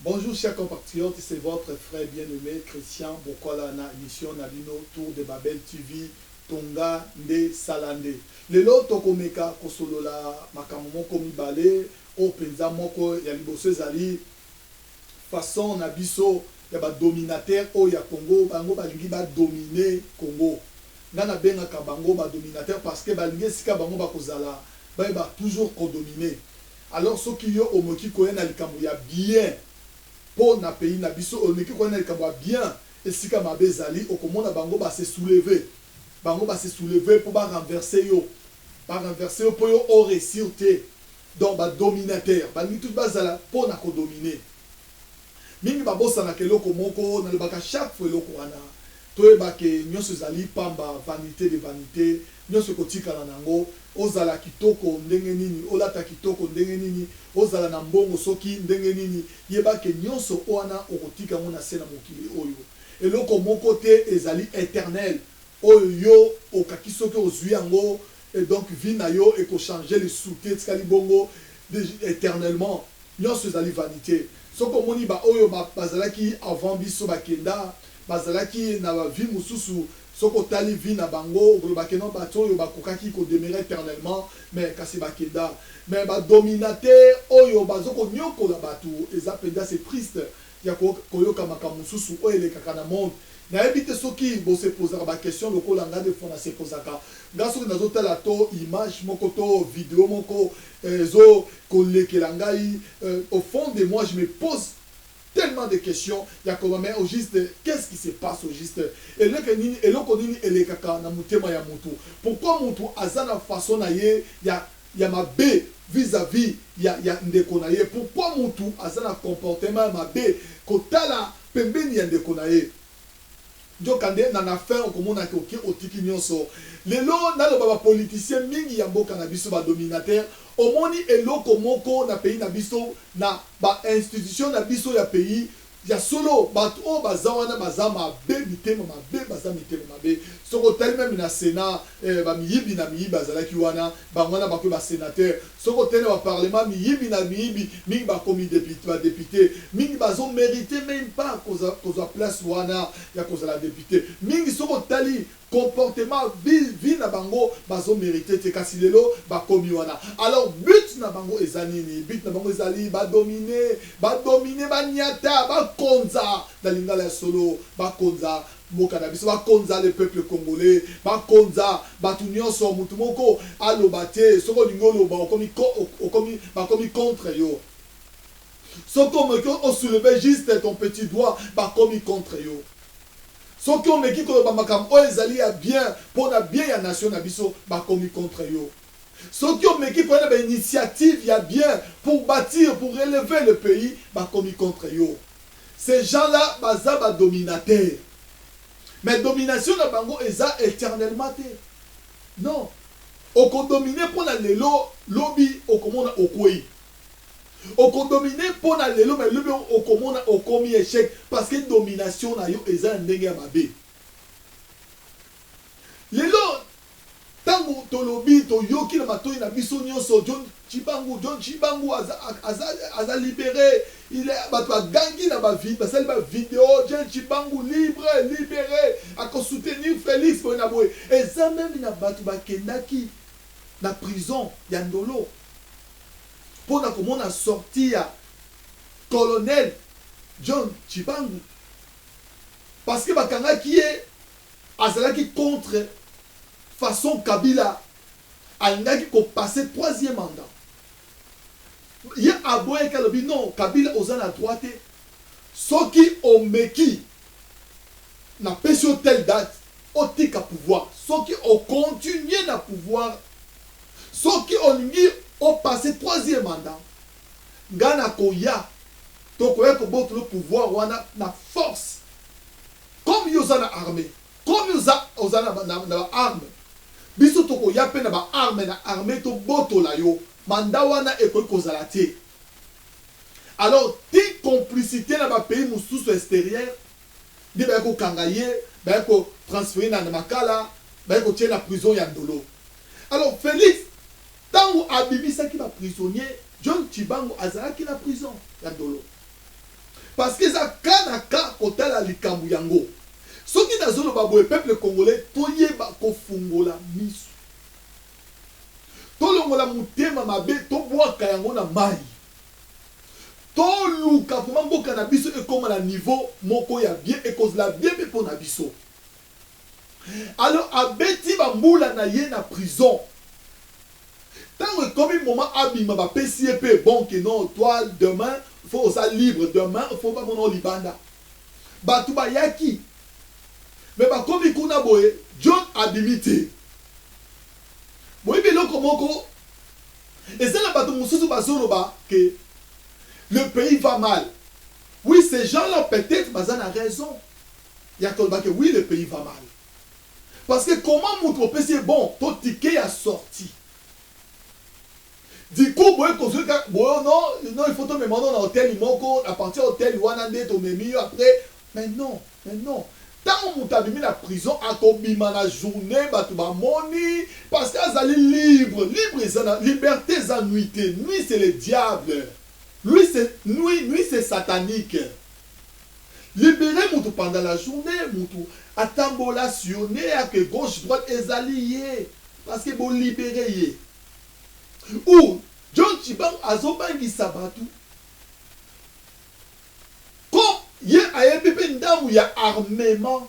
Bonjour chers compatriotes, c'est votre frère bien-aimé Christian Bokola na émission na bino Tour de Babel TV Tonga nde sala nde. Lelo tokomeka kosolola makambo moko mibale oyo mpenza moko ya liboso ezali façon na biso ya ba dominateur oyo ya Congo bango balingi ba domine Congo nga na bengaka bango ba dominateur parce que balingi esika bango bakozala baye ba toujours ko domine alors soki yo omoki koya na likambo ya bien po na pays na biso olmeki koya na likambo ya bien esika mabe ezali okomona bango ba se souleve bango ba se souleve po ba renverse yo ba renverse yo po yo o reussir te Donc ba dominateur balingi tout bazala po na ko domine mingi babosanaka eloko moko nalobaka chaque fois eloko wana toyeba ke nionso ezali pamba vanite de vanite nionso ekotikala nango ozala kitoko ndenge nini olata kitoko ndenge nini ozala na mbongo soki ndenge nini yeba ke nionso wana okotika yango nase na mokili oyo eloko moko te ezali eternel oyo yo okaki soki ozui yango Et donc vie na yo eko changer lisuute etikali bongo eternellement? Nionso ezali vanite. Soki omoni ba oyo bazalaki avant biso bakenda, bazalaki na ba vie mosusu, soki otali vie na bango okoloba ke non batu oyo bakokaki ko demeurer eternellement mais kasi bakenda. Mais ba dominateur oyo bazo koniokola batu eza penza c'est triste ya ko koyoka makambo mosusu oyo elekaka na monde nayebi te soki bo se pozaka ba question lokola nga de fois na se pozaka nga soki nazo tala to image moko to video moko ezo ko lekela ngai au fond de moi je me pose tellement de question ya koloba mais au juste qu'est ce qui se passe au juste eleke nini eloko nini elekaka na motema ya mutu pourquoi mutu aza na façon na ye ya ya mabe vis à vis ya ya ndeko na ye pourquoi mutu aza na comportement ya mabe kotala pembeni ya ndeko na ye nzoka nde na na fin okomona ke oke otiki nionso lelo naloba ba politiciens mingi ya mboka na biso ba dominateur omoni eloko moko na pays na biso na ba institutions na biso ya pays Ya solo batu oyo baza wana baza mabe mitema mabe baza mitema mabe soki otali meme na senat eh ba miyibi na miyibi bazalaki wana bango wana bakomi ba senateur soki otali na ba parlement miyibi na miyibi mingi bakomi depite ba depite mingi bazo merite meme pas kozua kozua place wana ya kozala depite mingi soki otali comportement vile vie na bango bazo merite te kasi lelo bakomi wana alors but na bango eza nini but na bango ezali ba domine ba domine ba niata ba konza na lingala ya solo ba konza mboka na biso ba konza le peuple congolais ba konza batu nionso mutu moko aloba te soki olingi oloba okomi okomi bakomi contre yo soki omoki o soulever juste ton petit doigt bakomi contre yo Soki omeki koloba makambo oyo ezali ya bien mpo na bien ya nation na biso, bakomi contre yo. Soki omeki koya na ba initiatives ya bien pour batir, pour relever le pays, bakomi contre yo. Ces gens là baza ba dominateurs. Mais domination na bango eza eternellement te. Non. Oko dominer mpo na lelo, lobi okomona okweyi. Oko dominer pona lelo mais lobi okomona okomi echec parce que domination na yo eza na ndenge ya mabe. Lelo tango tolobi toyoki na matoyi na biso nionso John Tshibangu, John Tshibangu aza aza aza libere, il est batu ba gangi na ba vi basali ba video John Tshibangu libre, libere, ako soutenir Felix boye na boye. Eza meme na batu bakendaki na prison ya Ndolo. pona komona sortie ya Colonel John Tshibangu parce que bakangaki ye azalaki contre façon Kabila alingaki ko passer troisième mandat ye aboyaki alobi non Kabila oza na droit te soki omeki napesi yo telle date Otika pouvoir soki o continuer na pouvoir soki olingi o passer troisième mandat nga nakoya tokoya kobotolo pouvoir wana na force comme yo oza na armee comme oza oza na na ba armes biso tokoya pe na ba armes na armee tobotola yo mandat wana ekoki kozala te alors ti complicite na ba pays mosusu exterieur nde baye ko kanga ye baye ko transfere na makala baye ko tie na prison ya ndolo alors Felix tangu abimisaki ba prisonnier John tshibangu azalaki na prison ya ndolo parce que eza cas na cas kotala likambu yango soki nazo loba boye peuple congolais toyeba ko fungola misu tolongola mutema mabe to bwaka yango na mayi. To luka vraiment mboka na biso ekoma na niveau moko ya bien ekozla bien pe pona biso alors abeti ba mbula na ye na prison tango ekomi moment abima ba pesi ye pe bon ke non toi demain faut oza libre demain faut ba mona yo libanda batu ba yaki mais ba komi kuna boye John abimi te boyebi eloko moko Eza na batu mususu bazo loba que le pays va mal oui ces gens là peut etre baza na raison ya koloba que oui le pays va mal parce que comment mutu opesi ye bon to ticket ya sortie du coup boye kozui kaka boye non non il faut tomema no na hotel moko à partir ya hotel wana nde tomemi yo après Mais non mais non tango mutu abimi na prison ako bima na journee batu ba moni parce que azali libre libre eza na liberte eza nuit te nuit c'est le diable lui c'est nuit nuit c'est satanique libere mutu pendant la journee mutu atambola sillonne ake gauche droite ezali ye parce que bo libere ye ou John tshibangu azo bangisa batu Comme ye ayebi pe ndamu ya armement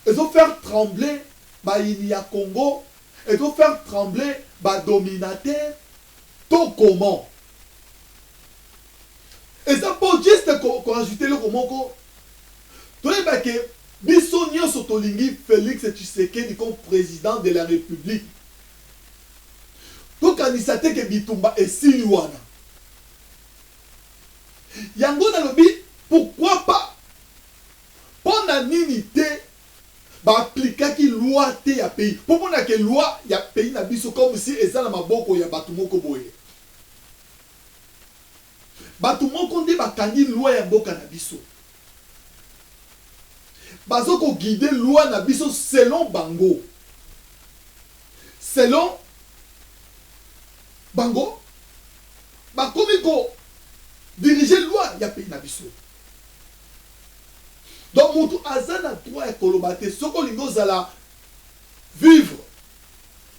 ezo faire trembler bayini ya Congo, ezo faire trembler ba dominateur to comment? Eza po juste ko ajouter eloko moko, toyeba ke biso nionso tolingi Felix Tshisekedi comme president de la Republique. Tokanisa te ke bitumba esili wana. Yango nalobi pourquoi pas? Pona nini te ba applicaki loi te ya pays? Po mona ke loi ya pays na biso comme si eza na maboko ya batu moko boye. Batu moko nde ba kangi loi ya mboka na biso. Bazo ko guider loi na biso selon bango. Selon bango. bakomi ko diriger loi ya pays na biso donc mutu aza na droit ya koloba te soki olingi ozala vivre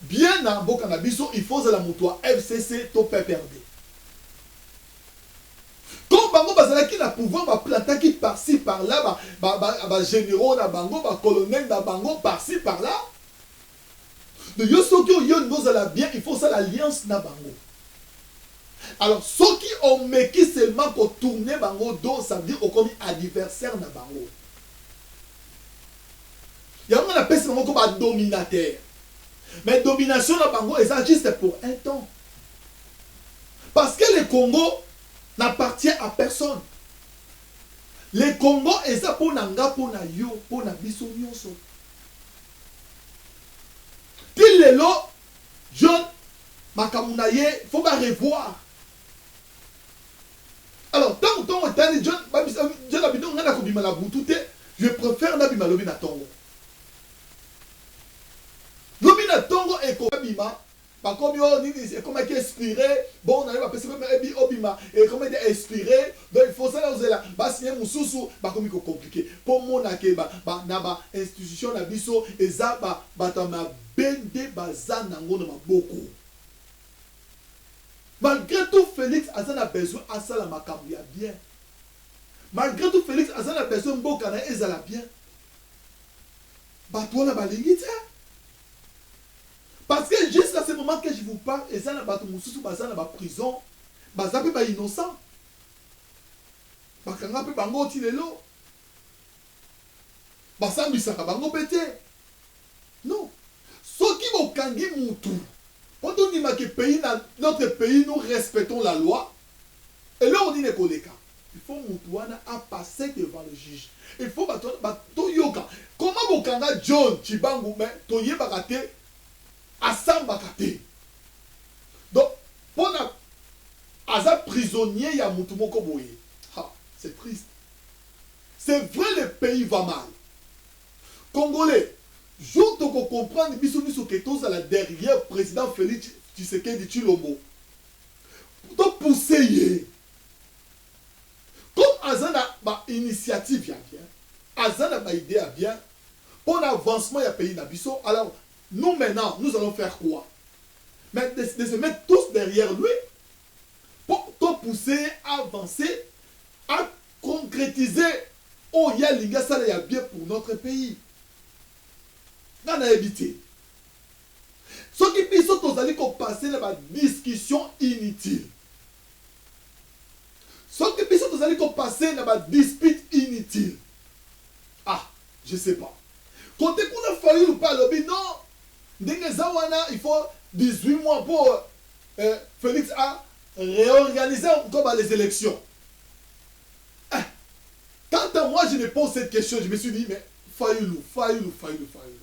bien na mboka na biso il faut ozala mutu ya fcc to pprd comme bango bazalaki na pouvoir baplantaki parci par là bagénéraux ba, ba, ba na bango bacolonel na bango parci par là Donc yo soki oye olingi ozala bien il faut osala alliance na bango alors soki omeki seulement ko tourner bango dos ça veut dire okomi adversaire na bango yango na pesi bango ko ba dominateur mais domination na bango eza juste pour un temps parce que le Congo n'appartient à personne le Congo eza mpo na nga mpo na yo mpo na biso nyonso Ti lelo John makambo na ye faut ba revoir. Alors tango tongo etani John John abino nga nako bima na butu te je prefère na bima lobi na tongo. Lobi na tongo eko bima. Bakomi oyo nini ekomaki expire bongo nayo bapesi pe ebi obima ekomi deja expire donc il faut osala ozela ba signe mususu bakomi ko complique po mona ke ba ba na ba institution na biso eza ba batu ya mabe nde baza nango na maboko malgre tout Felix aza na besoin asala makambu ya bien malgre tout Felix aza na besoin mboka naye ezala bien batu wana balingi te. Parce que jusqu'à ce moment que je vous parle eza na batu mususu baza na ba prison baza pe ba innocent bakanga pe bango ti lelo basambisaka bango pe te non soki bokangi mutu po tondima ke pays na notre pays nous respectons la loi eloko nini ekoleka Il faut mutu wana a passer devant le juge il faut batu wana ba toyoka comment bo kanga John tshibangu mais toyebaka te asambaka te donc pona aza prisonnier ya mutu moko boye ha c'est triste c'est vrai le pays va mal congolais jour toko comprendre biso miso ke tozala derrière president Felix tshisekedi tshilombo to pousser ye Comme aza na ba initiatives ya bien, aza na ba idees ya bien pona avancement ya pays na biso, alors nous maintenant nous allons faire quoi? Mais de, de se mettre tous derrière lui po to pousser ye a avancer, a concretiser oyo ye alingi asala ya bien pour notre pays. Nga nayebi te. Soki biso tozali ko passer na ba discussions inutiles, Soki biso tozali ko passer na ba disputes inutiles ah je sais pas cote kuna fayulu pe alobi non ndenge eza wana il faut 18 mois po eh, Felix a reorganiser encore ba les elections eh, quant à moi je me pose cette question je me suis dit mais fayulu fayulu fayulu fayulu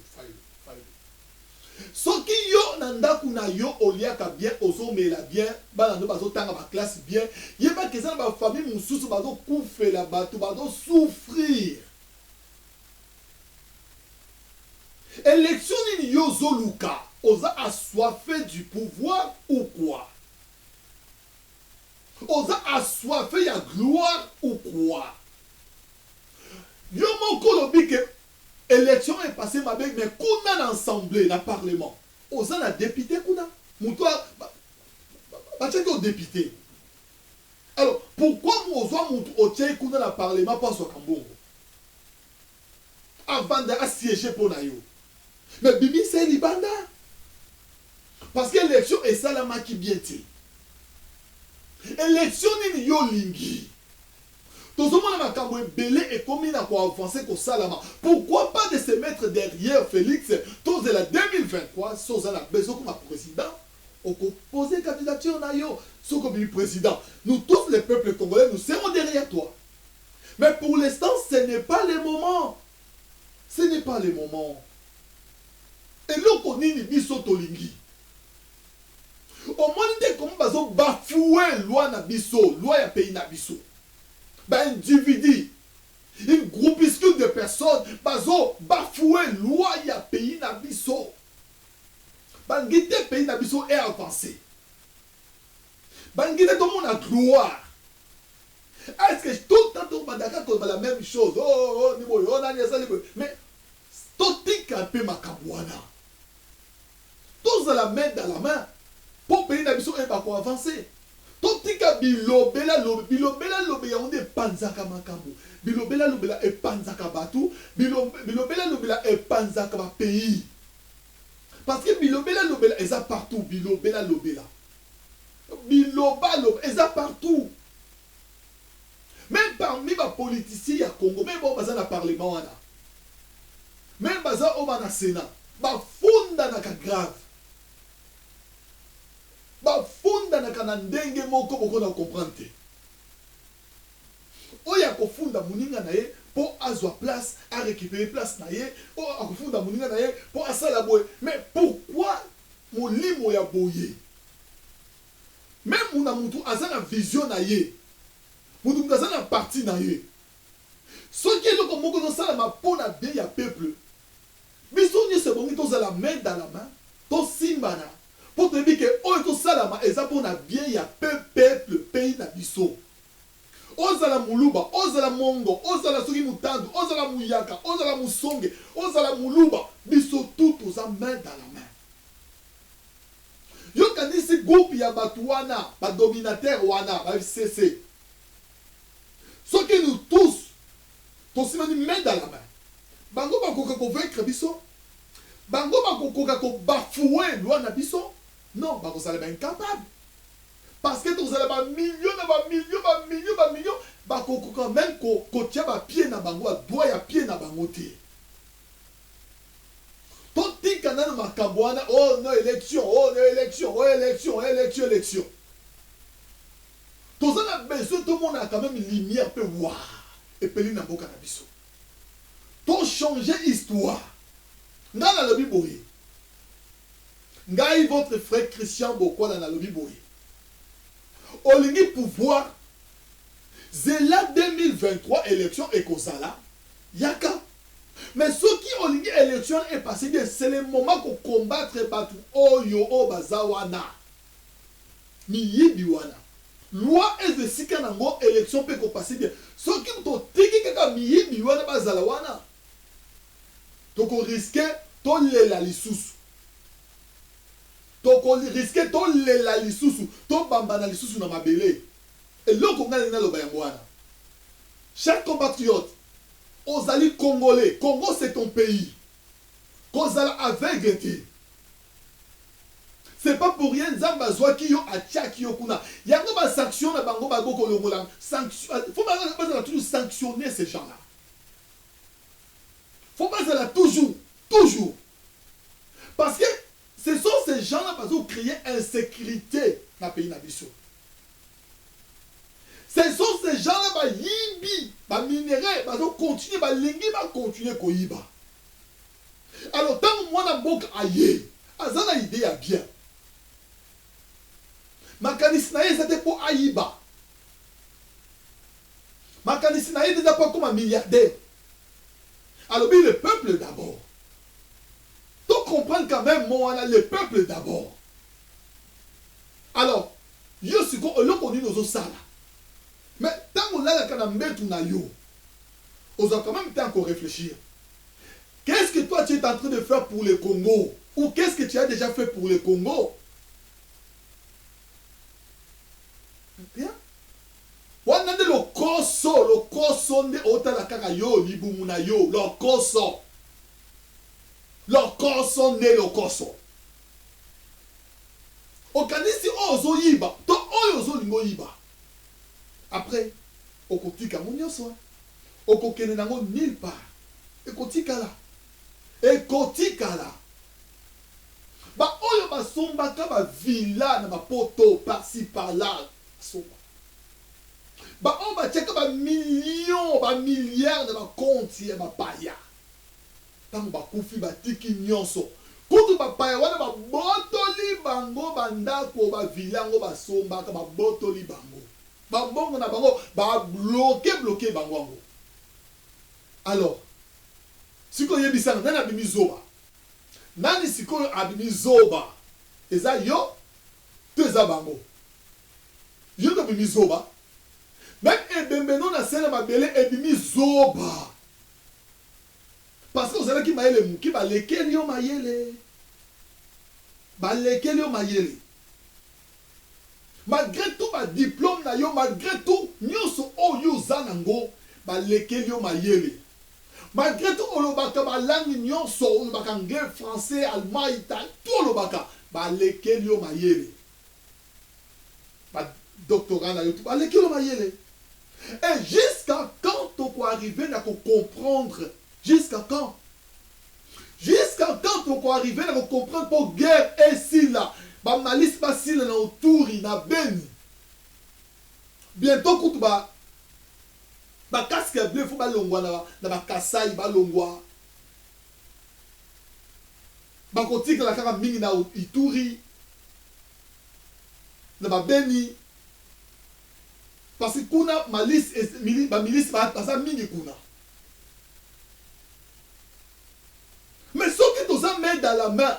Soki yo na ndaku na yo oliaka bien ozo mela bien bana no bazo tanga ba classe bien yeba ke eza na ba famille mususu bazo kufela batu bazo souffrir election nini yo ozo luka oza assoiffe du pouvoir ou quoi oza assoiffe ya gloire ou quoi yo moko olobi ke Election oyo epase mabe mais kuna na ensemble na parlement oza na depute kuna mutu batiaki yo depute alors pourquoi ozua mutu otie ye kuna na parlement po azuaka mbongo avanda a siege po na yo mais bimisa ye libanda parce que election esalamaki bien te election nini yo olingi Tozomona makambo ebele ekomi na ko avancer kosalama pourquoi pas de se mettre derriere Felix tozela 2023 soki oza na besoin okoma president oko poser candidature na yo soki obimi president nous tous les peuples congolais nous serons derriere toi mais pour l'instant ce n'est pas le moment ce n'est pas le moment eloko nini biso tolingi Omoni te comment bazo bafoue loi na biso, loi ya pays na biso. Ba individu, une groupuscule de personnes bazo bafoue loi ya pays na biso. Ba lingi te pays na biso e avancer. Ba lingi te tomona gloire. Est-ce que tout le temps tobanda kaka koloba la meme chose? Oh, oh, oh, ni boye, oh, nani asali boye. Mais totika mpe makambo wana. Tozala main dans la main po pays na biso eyeba ko avancer. Totika bilobela lobi, bilobela lobi yango nde epanzaka makambo, bilobela lobela epanzaka batu, bilobela lobela epanzaka ba pays. Parce que bilobela lobela eza partout, bilobela lobela, bilobaloba eza partout. Meme parmi ba politiciens ya Congo meme oyo baza na parlement wana meme baza oyo ba na senat ba fundanaka grave ba fundanaka na ndenge moko boko na comprendre te oyo ako funda muninga na ye po azwa place a recuperer place na ye oyo ako funda muninga na ye po asala boye mais pourquoi molimo ya boye Mais muna mutu aza na vision na ye mutu mutu aza na parti na ye soki eloko moko ezo salama po na bien ya peuple biso nioso ebongi tozala main dans la main to simbana po toyebi ke oyo ezo salama eza po na bien ya peuple pays na biso ozala muluba ozala mongo ozala soki mutandu ozala muyaka ozala musonge ozala muluba biso tout toza main dans la main. Yo kanisi groupe ya batu wana ba dominateur wana ba FCC soki nous tous tosimani main dans la main bango bakoka ko vaincre biso? Bango bakokoka ko bafouer loi na biso? Non bakozala ba incapable parce que tokozala ba millions na ba millions ba millions ba millions bakokoka meme kotia ba pieds na bango ba doigts ya pieds na bango te. Totika nanu makambo wana oh non election oh non election oh election oh election election toza na besoin tomona quand meme lumière pe waa epeli na mboka na biso to changer histoire nga nalobi boye ngai votre frère Christian Bokwala nalobi boye olingi pouvoir zela 2023 election ekozala yaka Mais soki olingi election e passer bien c'est le moment ko combattre batu oyo oyo baza wana miyibi wana loi ezwa esika na ngo election pe eko passer bien soki totiki kaka miyibi wana bazala wana toko risque tolela lisusu toko risque tolela lisusu to bambana lisusu na mabele eloko ngai nalingi naloba yango wana chers compatriotes Ozali congolais congo c'est ton pays kozala aveugle te c'est pas pour rien nzambe azuaki yo atiaki yo kuna yango ba sanction na bango ba boko longola sanction faut bazala toujours sanctionner ces gens là faut bazala toujours toujours parce que ce sont ces gens là bazo créer insécurité na pays na biso Ce sont ces gens là bayibi ba minerais bazo continuer balingi ba continuer koyiba alors tango mwana mboka aye aza na idee ya bien makanisi na ye eza te po ayiba makanisi na ye te eza po akoma milliardaire alobi le peuple d'abord to comprendre quand même mo wana le peuple d'abord alors Yo sikoyo eloko nini ozo sala? Mais tango olalaka na mbetu na yo ozua quand meme temps ya ko reflechir qu'est ce que toi tu es entrain de faire pour le Congo ou qu'est ce que tu as dejà fait pour le Congo? Bien wana nde lokoso lokoso nde otala kaka yo libumu na yo lokoso lokoso nde lokoso. Okanisi oyo ozo yiba to oyo ozo linga oyiba après oko tika yango nionso wana oko kende na yango nulle part eko tikala eko tikala ba oyo ba sombaka ba villa na ba poto par ci par là ba somba ba oyo ba tiaka ba millions ba milliards na ba compte ya ba paya Tango bakufi, batiki nyonso. Kutu bapaya wana babotoli bango bandako, ba villa yango basombaka, babotoli bango. Ba mbongo na bango, ba bloquer, bloquer bango yango. Alors, sikoyo yebisa nga, nani abimi zoba? Nani sikoyo abimi zoba? Eza yo? To eza bango? Yo nde obimi zoba. Meme ebembe no na se na mabele ebimi zoba. Parce que ozalaki mayele muke balekeli yo mayele balekeli yo mayele malgre tout ba diplome na yo malgre tout nionso oyo yo oza na ngo balekeli yo mayele malgre tout olobaka ba langue nionso olobaka anglais français allemand italien tout olobaka balekeli yo mayele. ba doctorat na yo tout baleki yo mayele et jusqu'à quand toko arriver na ko comprendre jusqu'à quand jusqu'à quand toko arriver na ko comprendre po guerre esila ba malisi basila na oturi na beni bientot kutu ba ba casque ya bleu faut balongwa na na ba kasai balongwa bakotikala kaka mingi na ituri na ba beni parce kuna malice et mili ba milice ba baza mingi kuna mais soki toza main dans la main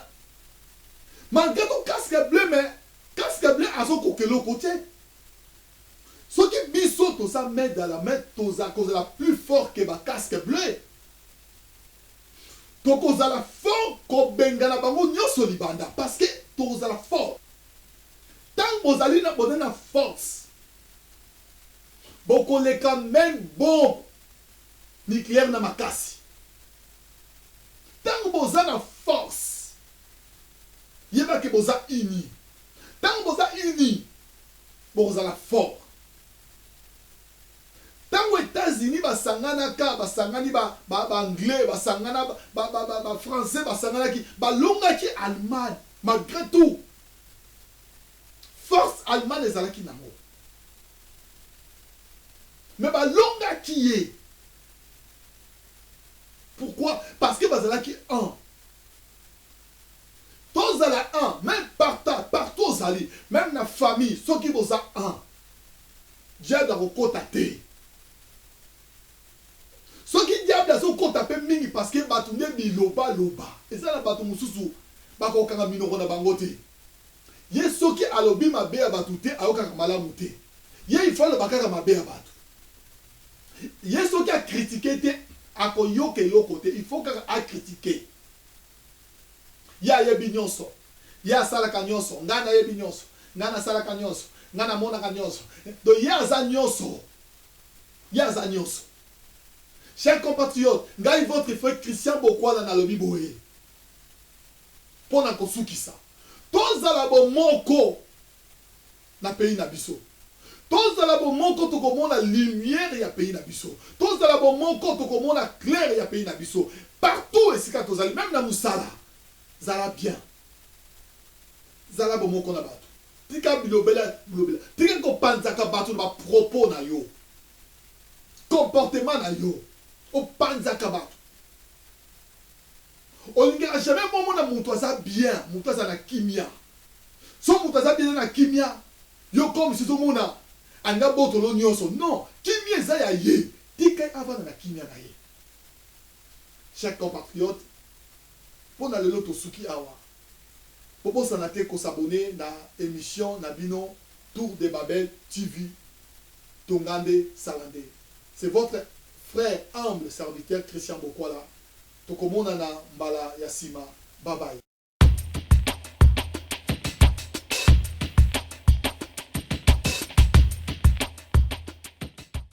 malgré tout casque bleu mais casque bleu azo koka eloko te soki biso toza main dans la main toza kozala plus fort que ba casque bleu Tokozala fort kobengana bango nionso libanda parce que tokozala fort tango bozali na boza na force bokoleka meme bombe nucleaire na makasi tango boza na force yeba ke boza unis tango boza unis bokozala fort Tango etats unis ba sangana ka ba sangani ba ba ba anglais ba sangana ba ba ba ba français ba sanganaki ba longaki Allemagne malgre tout force Allemagne ezalaki nango mais ba longaki ye pourquoi parce que bazalaki un tozala un même parta partout ozali même na famille soki boza un Diable ako kota te soki diable azo kota pe mingi parce que batu nde biloba loba eza na batu mususu bako kanga minoko na bango te ye soki alobi mabe ya batu te ayokaka malamu te ye il faut aloba kaka mabe ya batu ye soki a critique te ako yoka eloko te il faut kaka a critique ye ayebi nionso Ye asalaka nionso, ngai nayebi nionso, ngai nasalaka nionso, ngai namonaka nionso, donc ye aza nionso, ye aza nionso. Chers compatriotes, ngai votre frère Christian Bokwala nalobi boye, mpo na kosukisa, tozala bomoko na pays na biso, tozala bomoko tokomona lumière ya pays na biso, tozala bomoko tokomona claire ya pays na biso partout esika tozali, meme na musala. Zala bien. Zala bomoko na batu. Tika bilobela bilobela. Tika ko panzaka batu na ba propos na yo. Comportement na yo. O panzaka batu. Olingaka jamais omona mutu aza bien. Mutu azala na kimia. Soki mutu aza bien na kimia. Yo comme si ozo mona alingi abotolo nionso. Non. Kimia eza ya ye. Tika ye avanda na kimia na ye. Chers compatriotes, po na lelo tosuki awa. Bobosana te ko s'abonner na emission na bino Tour de Babel TV, Tonga nde, sala nde. C'est votre frère humble serviteur Christian Bokwala. Tokomonana mbala ya sima. Bye bye.